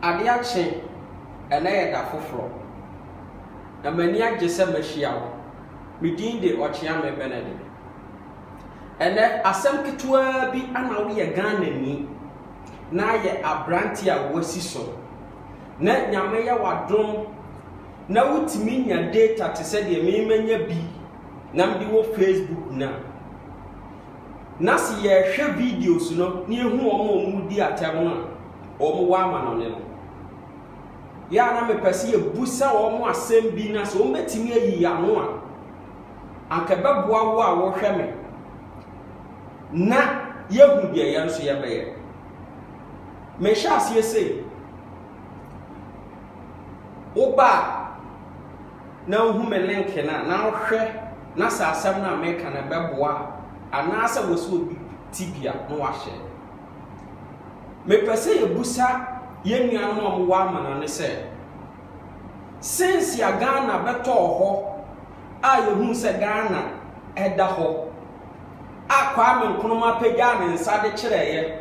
Ade akye, ɛnnɛ yɛ da foforɔ, na m'ani agye sɛ mahyia wo. Me din de Ɔkyeame Benedict. Ɛnnɛ, asɛm ketewaa bi ana woyɛ Ghanani na yɛ aberanteɛ a woasi so, na Nyame yɛ w'adom na wotumi nya data te sɛ deɛ me manya bi na mede wɔ Facebook no a, Na se yɛhwɛ videos no na yehu wɔn a wɔredi atɛm no a, wɔn wɔ amanɔne no. Yɛ a na mepɛ se yɛbusa wɔn asem bi na se wɔbetumi ayi y'ano a, anka ɛbɛboa wo a wohwɛ me na yɛahu deɛ yɛn nso yɛbɛyɛ. Mehyɛ aseɛ sei, woba a, na wohu me link no a, na wohwɛ na sɛ asɛm no a meka no bɛboa a, anaasɛ wɔ sɛ obi te bi a, na wahyɛ. Mepɛ sɛ yɛbusa yɛn nuanom a wɔwɔ amana no sɛ, sense a Ghana bɛtɔɔ hɔ a yɛhuu sɛ Ghana ɛda hɔ a Kwame Nkrumah pagyaa ne nsa de kyerɛeɛ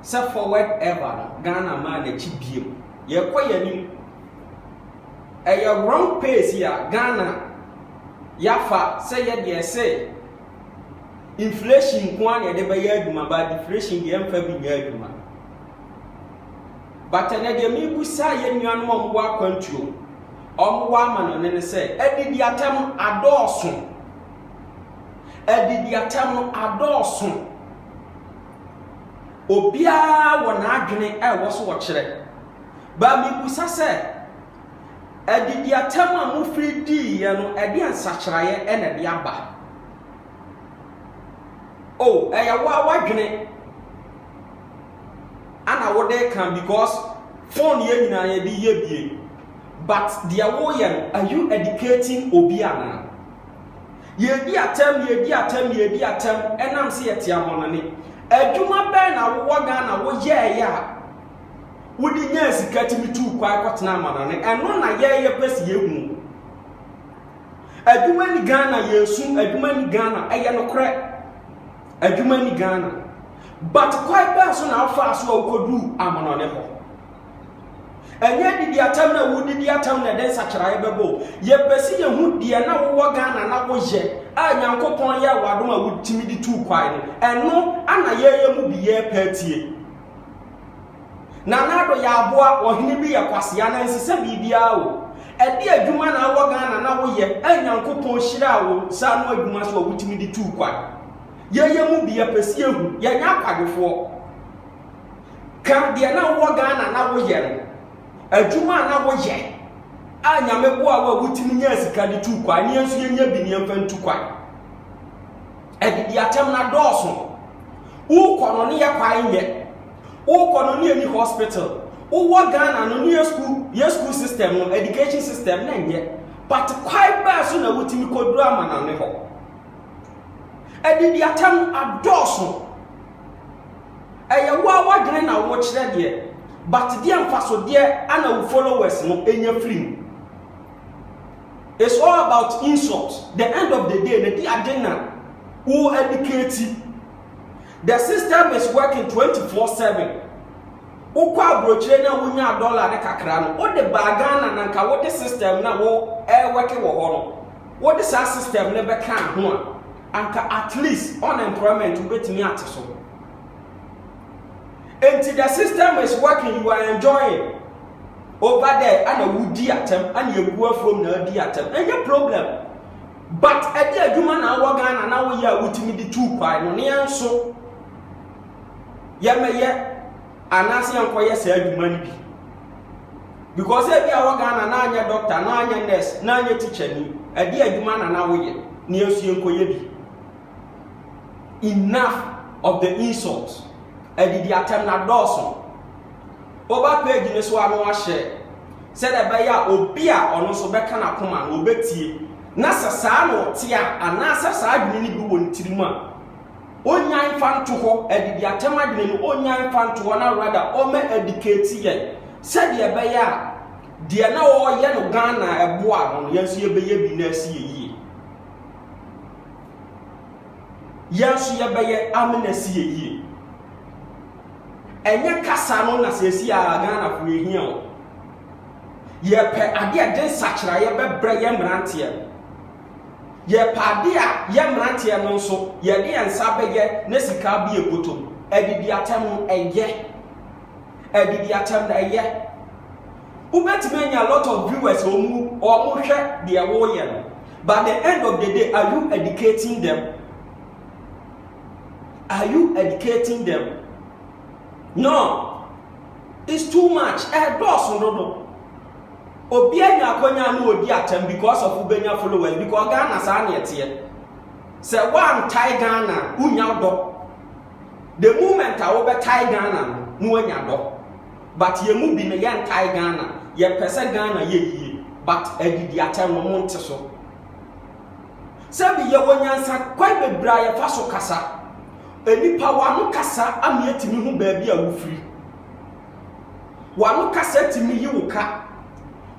sɛ forward ever no, Ghana maa n'akyi biem. Yɛkɔ yɛn anim. Ɛyɛ wrong pace a Ghana yɛafa sɛ yɛdeɛ ɛse inflation nko ara na yɛde bɛyɛ adwuma but deflation deɛ ɛmfa bi nyɛ adwuma. But ɛnɛ deɛ mebusa yɛn nuanom a wɔwɔ akwantuo, wɔwɔ amanɔne no sɛ adidi atɛm adɔɔso. Adidi atɛm no adɔɔso. Obiara wɔ n'adwene a ɛwɔ so ɔkyerɛ. But mebisa sɛ, adidiatam a mofiri diiɛ no, ɛdeɛn nsakyeraeɛ na ɛde aba? O, ɛyɛ wo a woadwene ana wode ka because phone yɛ nyinaa yɛde yɛ bie. But deɛ woyɛ no, are you educating obi anaa? Yɛdi atɛm, yɛdi atɛm, yɛdi atɛm, ɛnam sɛ yɛte amɔnane. Adwuma bɛn na wowɔ Ghana woyɛɛyɛ a wode nyaa sika tumi tuu kwan kɔtena amanɔne ɛno na yɛyɛ pɛ si yɛhu adwuma ni ghana yɛsu adwuma ni ghana ɛyɛ nokorɛ adwuma ni ghana but kwan bɛɛ so na afaa so a wokɔduu amanɔne hɔ ɛnyɛ didi atam na wodidi atam na ɛde nsakyeraeɛ bɛbɔ yɛpɛ si yɛhu deɛ na wowɔ ghana na woyɛ a nyankopɔn yɛ wadom a wotumi de tuu kwan no ɛno ana yɛyɛ mu bi yɛpɛ atie Nana Addo yɛ aboa, ɔhene bi yɛ kwasea na nsesɛ biribiara o. Ɛde adwuma na awɔ Ghana na woyɛ a Nyankopɔn hyiraa wo nsa ano adwuma so a wotumi de tuu kwan. Yɛyɛ mu bi yɛpɛ sɛ yɛhu, yɛnyɛ akwadwofoɔ. Ka deɛ na wowɔ Ghana na woyɛ no, adwuma a na woyɛ a Nyame boa wo a wotumi nyaa sika de tuu kwan, ne yɛn nso yɛnya bi ne yɛmfa ntu kwan. Adidi atɛm no adɔɔso. Wokɔ no ne yɛ kwae nyɛ. Wokɔ no ne yɛ ni hospital. Wowɔ Ghana no ne yɛ school yɛ school system no education system na nyɛ. But kwae bɛɛ so na wotumi kɔduru amanane hɔ. Adidi atɛm no adɔɔso. Ɛyɛ wo a wadwene na wokyerɛ deɛ. But deɛ mfasodeɛ ana wo followers no nya firi mu. It's all about insult the end of the day na di ade na wo educate the system is working 24/7 wokɔ aburokyire na wonya dollar ne kakra no wode baa Ghana na nka wode system na wo ɛwɛke wɔ hɔ no wode saa system ne bɛka ho a anka at least unemployment wobɛtumi ate so nti the system is working you are enjoying over there ana wodi atɛm ana egu afuom na adi atɛm ɛnyɛ problem but ɛde adwuma na awɔ ghana na woyɛ a wotumi de tuu kwae no ne yɛn nso yɛmɛyɛ anaasɛ yɛnkɔyɛ saa adwuma no bi because ebi awɔ ghana na anyɛ doctor na anyɛ nurse na anyɛ teacher ni ɛde adwuma na na woyɛ ne yɛn nso yɛnkɔyɛ bi Enough of the insult. Adidi atɛm na dɔɔso. Woba page no so a na wahyɛ sɛdeɛ ɛbɛyɛ a obi a ɔno nso bɛka n'akoma no ɔbɛtie na sɛ saa na ɔte a anaasɛ saa adwene no bi wɔ ne tirim a ɔnyan mfa nto hɔ adidi atɛm adwene no ɔnyan mfa nto hɔ na rada ɔma adikati yɛn sɛdeɛ ɛbɛyɛ a deɛ na ɔyɛ no Ghana ɛboa no yɛn nso yɛbɛyɛ bi na asi yɛ yie. Yɛn nso yɛbɛyɛ amena si yɛ yie. Ɛnyɛ kasa no na seesi a Ghanafoɔ yɛhia o. Yɛpɛ adeɛ a ɛde nsakyeraeɛ bɛbrɛ yɛ mmeranteɛ no. Yɛpɛ adeɛ a yɛ mmeranteɛ no nso yɛde yɛn nsa bɛyɛ na sika abie bɔtɔ mu. Adidiatɛm no ɛyɛ. Adidi atɛm na ɛyɛ. Wobɛtumi anya lot of viewers wɔn mu wɔn hwɛ deɛ wɔreyɛ no but the end of the day are you educating them? Are you educating them? No, it's too much. Ɛdɔɔso dodo. Obi anya akɔnya no odi atɛm because of wobɛnya followers because Ghana saa na ɛteɛ. Sɛ woantae Ghana wonya dɔ. The moment a wobɛtae Ghana no na wanya dɔ. But yɛn mu bi no yɛntae Ghana, yɛpɛ sɛ Ghana yɛ yie but adidiatɛm no monte so. Sɛbi yɛwɔ nyansakwan bebree a yɛfa so kasa. Nnipa w'ano kasa ama yɛtumi hu baabi a wofiri. W'ano kasa tumi yi wo ka.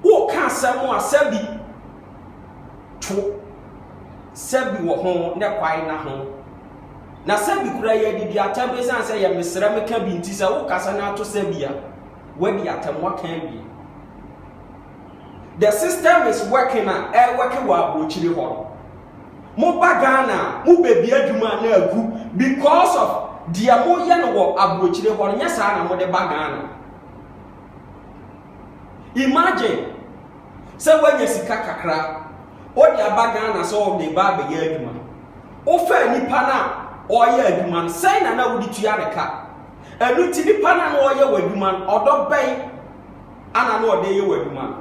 Woka asɛm a sɛbi to sɛbi wɔ ho ne kwae na ho. Na sɛbi kura yɛ didi atam ɛsiane sɛ yɛ mesrɛ me ka bi nti sɛ wo kasa no ato sɛbi a wadi atam waka awie the system is working a ɛwɛke wɔ abokyiri hɔ mo ba Ghana mo bɛbi adwuma na agu because of deɛ mo yɛ no wɔ abokyiri hɔ nyɛ saa na mo de ba Ghana imagine sɛ woanya sika kakra, wode aba Ghana sɛ wɔde ba abɛyɛ adwuma. Wofaa nipa no a ɔreyɛ adwuma no, sɛn na na wode tua ne ka? Ɛno nti nipa no a na ɔreyɛ w'adwuma no, ɔdɔ bɛn ana na ɔde yɛ w'adwuma no?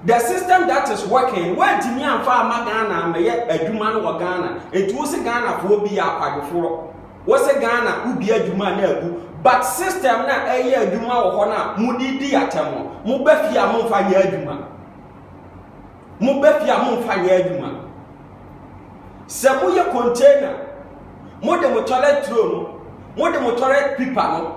The system that is working, woantumi amfa ama Ghana ammɛyɛ adwuma no wɔ Ghana, nti wo se Ghanafoɔ bi yɛ akwadwofoɔ. wɔsɛ Ghana wodi adwuma no agu but system na ɛyɛ adwuma wɔ hɔ no a mode di atɛm no moba fie a momfa nyɛ adwuma moba fie a momfa nyɛ adwuma sɛ moyɛ container mode mo toilet tro no mode mo toilet pipa no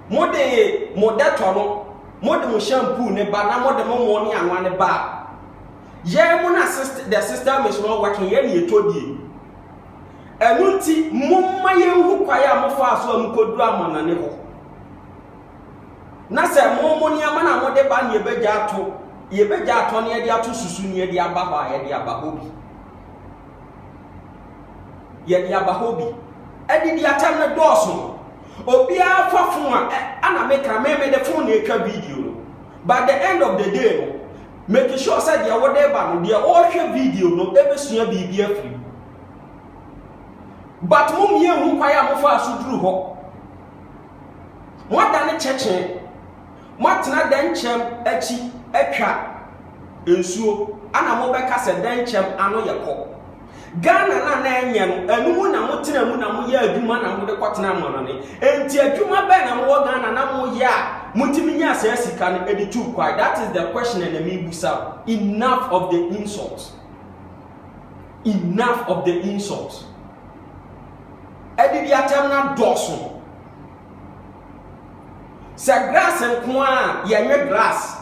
mode mo dɛtɔ no mode mo shampoo ne ba na mode mo mo ne anwa ne ba yɛn mo na the system is not working yɛn ne yɛtɔ die Ɛno nti, momma yɛnhu kwan a mofaa so a mukoduru amannɔne hɔ. Na sɛ mo mo nneɛma na mode ba ne yɛbɛgya ato, yɛbɛgya atɔ ne yɛde ato susu ne yɛde aba hɔ a yɛde aba hɔ bi. Yɛde aba hɔ bi. Adidi atɛm no dɔɔso no, obiara fa fon a ana meka me mede fon na atwa video no. By the end of the day no, make sure sɛ deɛ wode ba no, deɛ ɔrehwɛ video no ɛbɛsua biribi afiri But mo mmie nhu kwan a mofaa so duru hɔ. Moadane kyɛkyee. Moatena dɛnkyɛm akyi atwa nsuo ana mobɛka sɛ dɛnkyɛm ano yɛ kɔ. Ghana no a na ɛnyɛ no, ɛno mu na motena mu na moyɛ adwuma na mode kɔtena amanɔne. Enti adwuma bɛn na mowɔ Ghana na moyɛ a motumi nyaa saa sika no de tuu kwae? That is the question ɛna mebusa wo. Enough of the insult. Enough of the insult. Adidi atam na dɔɔso. Sɛ grass nko a yɛnwe grass.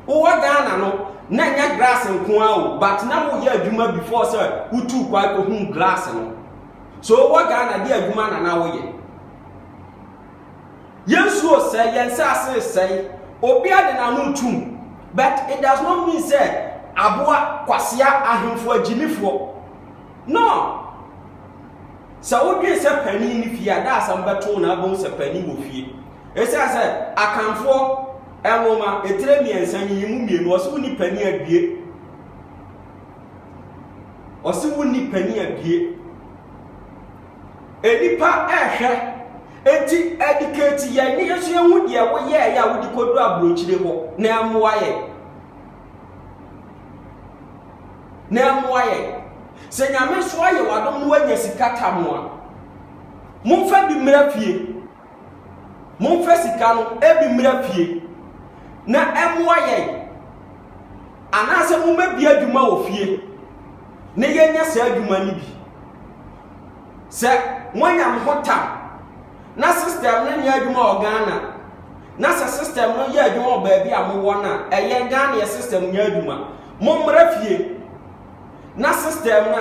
Wowɔ Ghana no na nyɛ grass nko a o but na woyɛ adwuma before sɛ wotu kwan kɔhu grass no. So wowɔ Ghana de adwuma na na woyɛ. Yensuro sɛ yɛn nsase resɛe. Obiara de n'ano tum. But it does not mean sɛ aboa kwasea ahemfo agyimifoɔ. No! Sɛ wodwen sɛ panin ne fie a, daasɛm bɛto wo na abom sɛ panin wɔ fie. Esiane sɛ Akanfoɔ nwoma etire mmiɛnsa yi mu mmienu ɔse wonni panin adue. Ɔse wonni panin adue. Nnipa rehwɛ, enti educate yɛn ne yɛn nso yɛhu deɛ woyɛeɛ a wode kɔduru aburokyire hɔ na ɛmmoa yɛn. Na ɛmmoa yɛn. Sɛ nyame nso ayɛ w'adom na woanya sika tam a, momfa bi mmra fie. Momfa sika no ebi mmra fie na ɛmmoa yɛn. Anaasɛ mommɛbi adwuma wɔ fie na yɛnya saa adwuma no bi. Sɛ moanya mo ho tam na system no nyɛ adwuma wɔ Ghana na sɛ system no yɛ adwuma wɔ baabi a mowɔ no a, ɛyɛ Ghana yɛ system nyɛ adwuma. Mommra fie na system no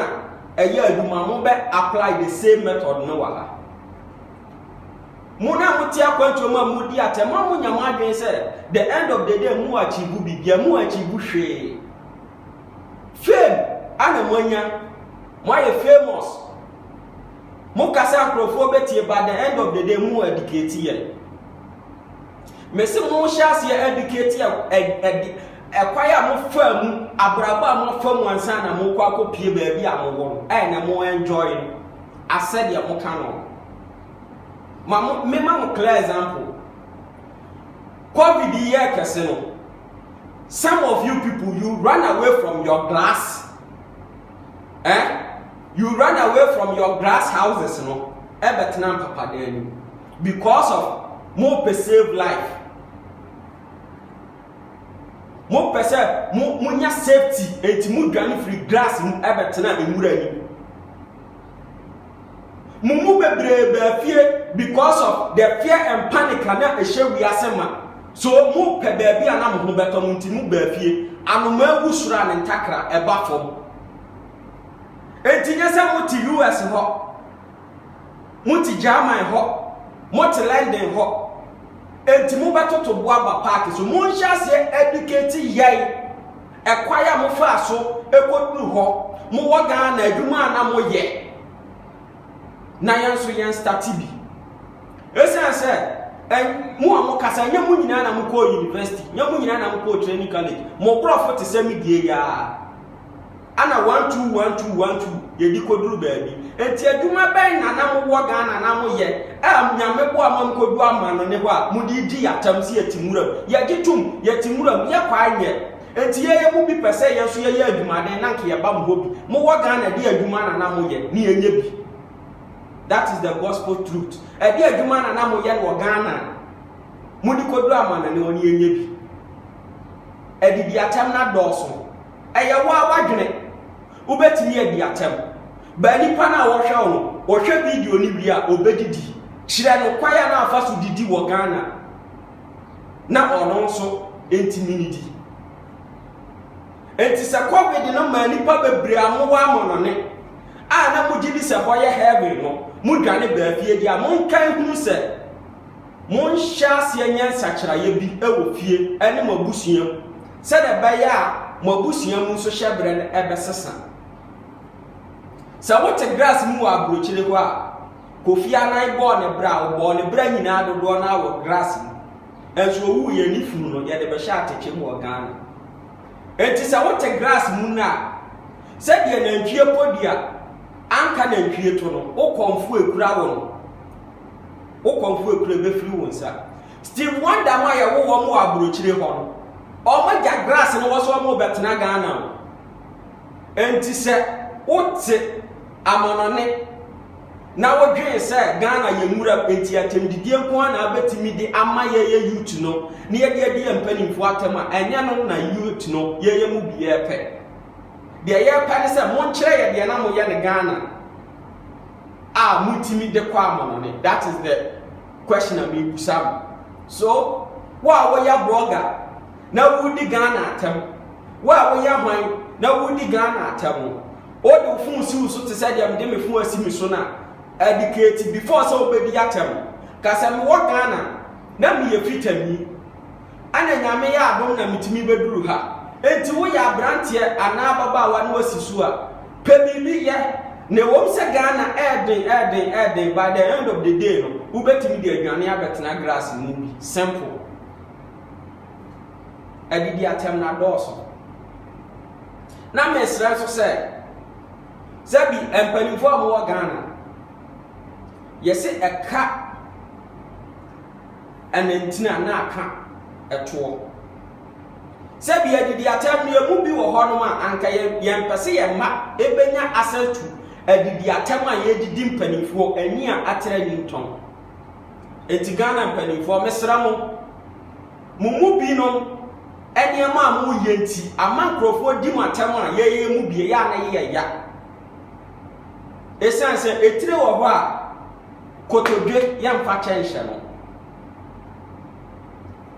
a ɛyɛ adwuma mo bɛ apply the same method no wɔ ha. Mo na mote akwantuo mu a modi atɛm a monya mo adwene sɛ the end of the day mo achieve biribiara mo achieve hwee. Fame a na moanya, moayɛ famous. Mo kasa nkurɔfoɔ bɛtie but the end of the day mo educate yɛ. Mese mo hyɛ aseɛ educate yɛ ɛde ɛkwan a mofa mu abrabɔ a moafa mu ansa na mokɔ akɔpie baabi a mowɔ no ɛyɛ na mo enjoy no asɛdeɛ moka no. Ma mo mema mo clear example. Covid yi yɛ kɛse no. some of you people you run away from your glass eh you run away from your glass houses no ɛbɛtena mpapadan no because of mo pɛ save life mo pɛ sɛ mo mo nya safety eti mo dwane firi glass mu ɛbɛtena nwura mu. Mo mu bebree baa fie because of the fear and panic a na ɛhyɛ wiase ma. So mo pɛ baabi a na mo ho bɛtɔ mo nti mo baa fie. Anomaa wu soro a ne ntakra ɛba fam. Enti nyɛ sɛ mo te US hɔ, mo te German hɔ, mo te London hɔ. Enti mo bɛtoto bo aba paaki so. Mo nhyɛ aseɛ educate yɛn Ɛkwan a mofaa so kɔduru hɔ, mowɔ Ghana adwuma a na moyɛ, na yɛn nso yɛn stati bi. Ɛsiane sɛ mo a mokasa, nyɛ mo nyinaa na mokɔɔ university, nyɛ mo nyinaa na mokɔɔ training college, mo borɔfo te sɛ me die yi ara, ana one two one two one two. yɛdi kɔduru baabi. Nti adwuma bɛn na na mowɔ Ghana na moyɛ a Nyame boa ma mokɔdu amanone hɔ a mode di yɛatam se yɛte nwuram? Yɛgye tom, yɛte nwuram, yɛkwae nyɛ. Nti yɛyɛ mo bi pɛ sɛ yɛn nso yɛyɛ adwumaden na nka yɛba mo hɔ bi. Mowɔ Ghana de adwuma na na moyɛ ne yɛnyɛ bi. That is the gospel truth. Ɛde adwuma na na moyɛ no wɔ Ghana mode kɔduru amanone hɔ ne yɛnyɛ bi. Ɛde di atɛm na dɔɔso. Ɛyɛ wo a wadwene. Wobɛtumi adi atɛm. Baa nipa no a wɔhwɛ wo no, ɔhwɛ video no wie a, ɔbɛdidi. Kyerɛ no kwan a na afa so didi wɔ Ghana na ɔno nso ntumi nidi. Enti sɛ covid no maa nipa bebree a mowɔ amɔnɔne a na mogye di sɛ hɔ yɛ heaven no, modwane baa fie deɛ a, monka nhunu sɛ monhyɛ aseɛ nyɛ nsakyeraeɛ bi wɔ fie ne mo abusua mu. sɛdeɛ ɛbɛyɛ a mo abusua mu nso hyɛberɛ no ɛbɛsesa. Sɛ wote grass mu wɔ aburokyire hɔ a, Kofi Annan bɔɔ ne bra, ɔbɔɔ ne bra nyinaa dodoɔ no ara wɔ grass mu. Ɛnso ɔwuu yɛn ne funu no yɛde bɛhyɛ atɛkyɛ mu wɔ Ghana. Enti sɛ wote grass mu no a, sɛdeɛ nantwie kɔ di a, anka nantwie to no, wokɔmfo ekura wo no, wokɔmfo ekura ɛbɛfiri wo nsa. Steve Wonder mo a yɛwo wɔn wɔ abrokyire hɔ no, wɔn agya grass no wɔ so wɔn rebɛtena Ghana o. Enti sɛ wote amanɔne na wodwen sɛ Ghana yɛ nwura mu enti atɛmdidie nko ara na abɛtumi de ama yɛyɛ youth no na yɛde adi yɛn mpanimfoɔ atɛm a, ɛnyɛ no na youth no yɛyɛ mu bi yɛpɛ. Deɛ yɛpɛ ne sɛ monkyerɛ yɛ deɛ na moyɛ no Ghana a motumi de kɔ amanɔne. That is the Question a merebisa wo. So wo a woyɛ blogger na woredi Ghana atɛm, wo a woyɛ hwan na woredi Ghana atɛm, wode wo phone si wo so te sɛ deɛ mede me phone asi me so no a, educate before sɛ wobɛdi atɛm. Ka sɛ mewɔ Ghana na meyɛ Fitani. Ana Nyame yɛ adom na metumi bɛduru ha? Enti woyɛ abranteɛ anaa ababaawa na wasi so a, pɛ biribi yɛ. Na ɛwom sɛ Ghana ɛɛden ɛɛden ɛɛden, by the end of the day no, wobɛtumi de adwane abɛtena glass mu bi. Simple. Adidi atɛm na dɔɔso. Na mesrɛ nso sɛ, sɛ bi mpanimfoɔ a wɔwɔ Ghana, yɛse ɛka Ɛna nti na na aka ɛtoɔ. Sɛbi adidi atɛm no yɛn mu bi wɔ hɔ nom a anka yɛn pɛ sɛ yɛn mma ɛbɛnya access to adidi atɛm a yɛdidi mpanimfoɔ ani a atere ani ntɔn. Eti Ghana mpanimfoɔ mesrɛ mo, mo mu bi nom nneɛma a mo yɛ nti ama nkurɔfoɔ di mo atɛm a yɛyɛ mu bi yɛ a na yɛ ya. Ɛsiane sɛ etire wɔ hɔ a kotodwe yɛmfa kyɛ nhyɛ no,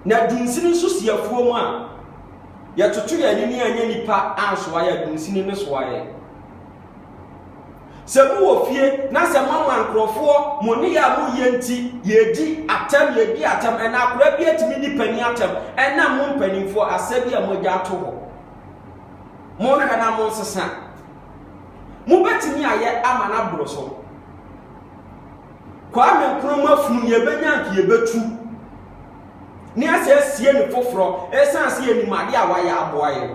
na dunsini nso si afuo mu a, yɛtoto yɛn ani ne anyɛ nipa ansoa yɛ dunsini ne soa yɛ. Sɛ mo wɔ fie na sɛ mama nkurɔfoɔ mo ne yɛ a moyɛ nti yɛdi atɛm yɛdi atɛm ɛna akora bi atumi di panin atɛm ɛna mo mpanimfoɔ asɛ bi a moagya ato hɔ monhwɛ na monsesa mobɛtumi ayɛ ama no aboro so Kwame Nkrumah funu nea ɛbɛnya nka yɛbɛtu ne asɛ asie ne foforɔ ɛsiane sɛ yɛnim adeɛ a wayɛ aboa yɛ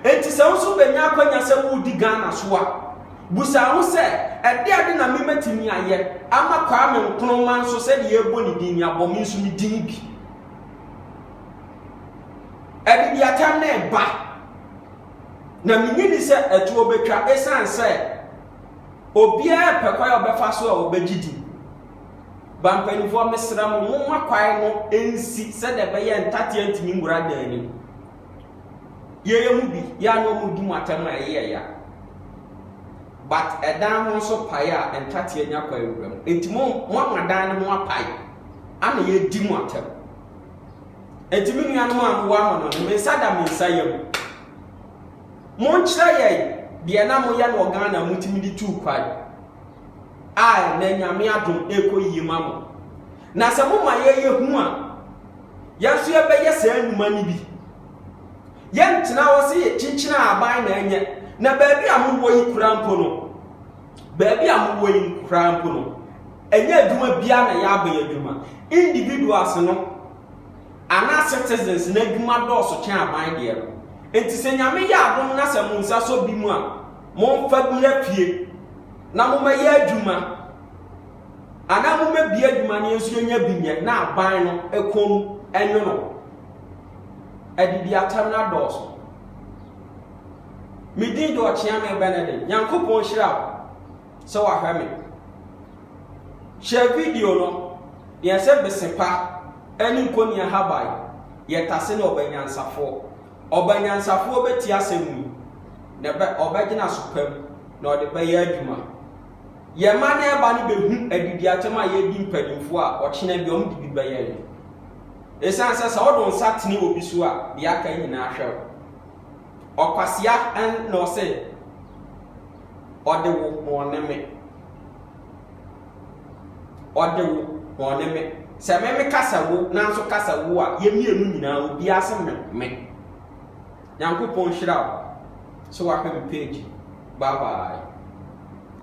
enti sɛ wo nso bɛnya akwanya sɛ woredi ghana so a busa ho sɛ ɛde ade na memɛtumi ayɛ ama Kwame Nkrumah nso sɛdeɛ yɛbɔ ne din abɔ me nso me din bi ɛde bi atam na ɛba na menyi ni sɛ ɛtoɔ bɛtwa ɛsiane sɛ Obiara pɛ kwan a ɔbɛfa so a ɔbɛgye din. Ba mpanimfoɔ mesrɛ mo, momma kwan no nsi sɛdeɛ ɛbɛyɛ ntateɛ ntumi nwura dan anim. Yɛyɛ mu bi, yɛ a na wɔdi mu atɛm a ɛyɛ ya. But ɛdan ho nso pae a ntateɛ nya kwan wura mu. Enti mo moama dan no ho apae ana yɛdi mu atɛm. Enti me nuanom a mowɔ amamɔne, me nsa da me nsa yam. Monkyerɛ yɛn deɛ na moyɛ no wɔ Ghana a motumi de tuu kwan a ɛnnɛ Nyame adom ɛrekɔ yie ma mo. Na sɛ moma yɛn yɛhu a, yɛn nso yɛbɛyɛ saa nnwuma no bi. Yɛntena hɔ sɛ yɛkyinkyina aban na ɛnyɛ. Na baabi a mowɔ yi koraa mpo no, baabi a mowɔ yi koraa mpo no, ɛnyɛ adwuma biara na yɛaba yɛ adwuma. Individuals no, Anaa citizens no adwuma dɔɔso kyɛn aban deɛ no nti sɛ Nyame yɛ adom na sɛ monsa sɔ bi mu a monfa bira pie na momɛyɛ adwuma anaa momɛbie adwuma no yɛnso yɛnya bi nyɛ na aban no ɛkɔm ɛnwono adidi atɛm no adɔɔso. Medin de Ɔkyeame Benedict, Nyankopɔn nhyira wo. sɛ wahwɛ me. Hyɛ video no, Deɛ sɛ bese pa ne nkoni ahaban yɛ tase ne ɔbanyansafoɔ. Ɔbanyansafoɔ bɛtie asɛm yi, na ɛbɛ ɔbɛgyina so pam na ɔde bɛyɛ adwuma. Yɛn mma ne ɛba no bɛhu adidiakyɛm a yɛdi mpanimfoɔ a ɔkyena bi wɔn de bi bɛyɛ no. Ɛsiane sɛ sɛ ɔde nsa tene obi so a, deɛ aka nyinaa hwɛ wo. Ɔkwasea na ɔsɛ Ɔde wo bɔne me. Ɔde wo bɔne me. Sɛ me me kasa wo nanso kasa wo a yɛ mmienu nyinaa obiara se me me. Nyankopɔn nhyira wo sɛ wapɛ me page. Bye bye.